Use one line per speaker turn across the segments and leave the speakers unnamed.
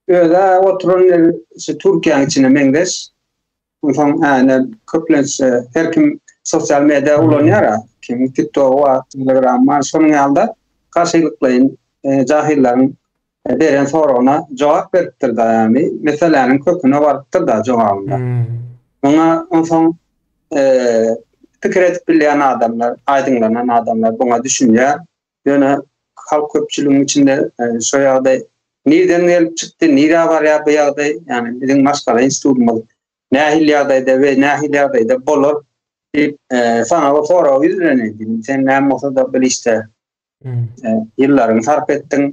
Öde oturan ýeri şu Türkiýäň içine meňzeş. Onsoň äne köplenç her kim sosial media ulanýar. Kim TikTok we Telegram bar. Şonuň ýalda garşylyklaýyn e, jahyllarň e, beren soragyna jogap beripdir da ýagny meseläniň köküne barypdyr da jogabynda. Hmm. Muňa onsoň e, pikir edip bilýän adamlar, aýdyňlanan adamlar buňa düşünýär. Ýöne halk köpçüligiň içinde e, şu ýagdaý nireden gelip çykdy, nirä barýar bu ýagdaý? Ýagny biziň maşgala institutymyz nähili ýagdaýda we nähili ýagdaýda bolar diýip, e, sana bir sorag ýüzlenildi. Sen näme bolsa-da bir işde hmm. e, ýyllaryňy sarp etdiň.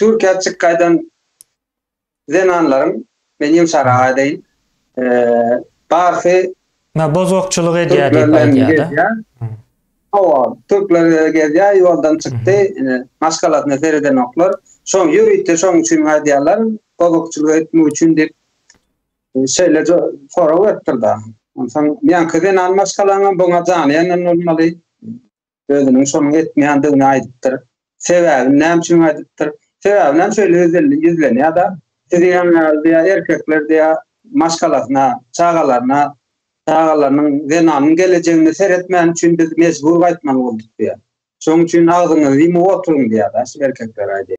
Türkiýä çyk gaýdan zenanlaryň men ýumşarak aýdaýyn. Barsy Mä bozgakçylyk
edýär diýip aýdýar-da. Hawa,
türkler gezýär, ýoldan çykdy, ine, maşgalasyna seredenoklar. Şoň ýörite şoň üçin aýdýarlar, bozgakçylyk etmek üçin diýip, şeýle sorag beripdir-de. Onsoň ýaňky zenan maşgalaňam buňa jany ýanan bolmaly. Özüniň şonuň etmeýändigini aýdypdyr. Sebäbini näme üçin aýdypdyr? Sebäbini hem şeýle ýüzlenýär, ýüzlenýär-de. Siziň ýaňyňyz diýýär, erkekler diýýär, maşgalasyna, çagalaryna, çagalarynyň, zenanyň gelejegine seretmäni üçin biz mejbur gaýtmaly bolduk diýýär. Şonuň üçin agzyňyzy ýumup oturyň diýýär-de, şu erkekler-aý diýýär.